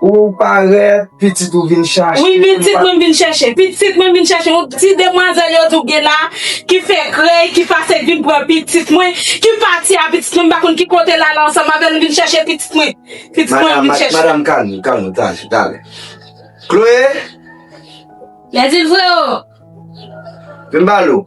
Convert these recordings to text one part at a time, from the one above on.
Ou parèt, pitit ou vin chache. Wi, pitit mwen vin chèche. Pitit mwen vin chèche. Yon ti demwazèl yo di w gen la, ki fè krèy, ki pase vin pran pitit mwen, ki pati a pitit mwen, m pa konn ki kote l ale ansanm avè l, m vin chèche pitit mwen. Pitit mwen vin chèche. Madam, kalm ou, kalm ou, tann, tann. Chloé! Lèzilfredo! Vin ba l ou.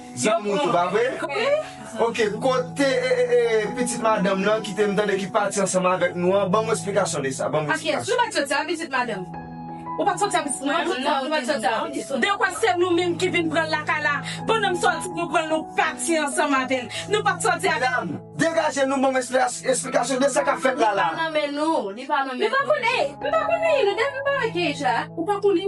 Zanmi ou tou pa vre? Ok kote pitit madanm lan ki te m tande ki pati ansanm avèk nou an banm yon esplikasyon de sa banm esplikasyon. Akyes ou pat soti ak pitit madanm. Ou pat soti ak pitit madanm nan ou pat soti avèl. Dekwa se nou menm ki vin pranl lakay la pandan m soti nou pranl nou pati ansanm avèl nou pat soti avèl. Medam degaje nou banm esplikasyon de sa kap fèt la la. Li pa nan men nou li pa nan men nou. M pa konn Eyy m pa konn Eyy nou depi m pa wè Keyj la ou pa konn li.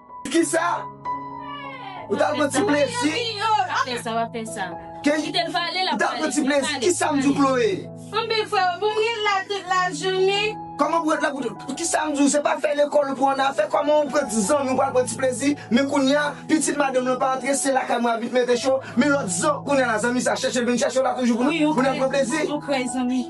Kisa? Ou ta pran ti plezi? Fè sa wap fè sa. Kite l pale lap pale. Ou ta pran ti plezi? Kisa m di w Chloé? Anben freo pou m ret la tout la jounen? Koman pou ret la pou tout. Kisa m di w se pa fè lekòl ou pran an afè koman ou pran ti zanmi ou pral pran ti plezi men kounya pitit madanm lan pa antre se lakay mwen ap vin mete cho men lòt zan kounya la zanmi sa chèche l vin chèche w la toujou pou nou pran plezi?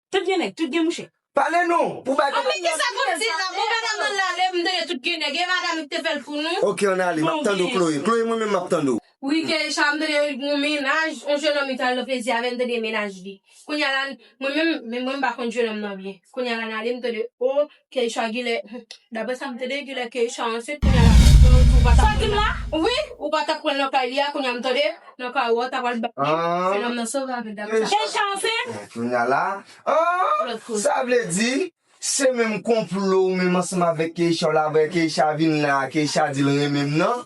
Tout gen nèg, tout gen mouche. Pale nou pou bay kob la. Anmyee kisa kont di la bon madam nan la lem tande tout gen nèg e madam li kte fèl pou nou. Ok an ale map tande w Chloé. Chloé mwen menm map tande w. Wi Keisha mtande gon mennaj yon jenòm li tal nan plezi avèl mtande mennaj li kounya la mwen menm mwen mpa konn jenòm nan byen kounya la nale mtande oh. Keisha gile Dapre sa m tande li gile Keisha ansent kounya la ou pa tap pranl wi ou pa tap pranl nan kay li a kounya m tande nan kay ou a ou ta pral bal li se nonm nan sove avèl dapre sa Keisha ansent kounya la aah sa vle di se menm konplo ou menm ansanm avèk Keisha w la aprè Keisha vin la Keisha di l renmen m nan.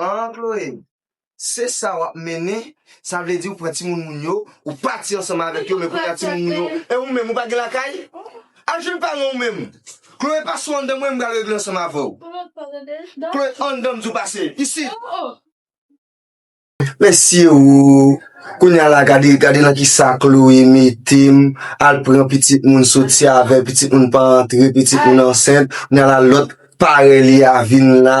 An Chloé, se sa wap mennen, sa vle di ou pran timoun moun yo, ou pati ansanm avèk yo men kounya timoun moun yo, e ou menm ou pa gen lakay? Al jwenn paran ou menm. Chloé pase w anndan mwen m pral regle ansanm avè w. Chloé anndan m di w pase, isit. Mesye oo, kounya la gade gade nan kisa Chloé mete m, al pran pitit moun soti avè pitit moun pa antre pitit moun ansent, kounya la lòt parèy li a vin la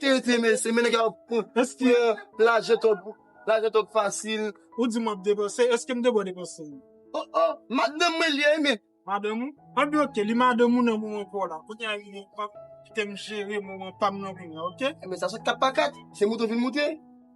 Te te mesi men nèg yo ap pran. Eske lajan trop lajan trop fasil. Ou di map depanse eskem te bon depanse. Oh oh madanm mwen li ye men. Madanm ou? An bi ok li madanm ou nan moman paw la kounye a rive pap kitem jere moman pam nan kounya ok. Ebyen sa sot 4 pa 4 se moute ou vin moute.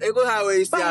E kon sa yo ye isi a.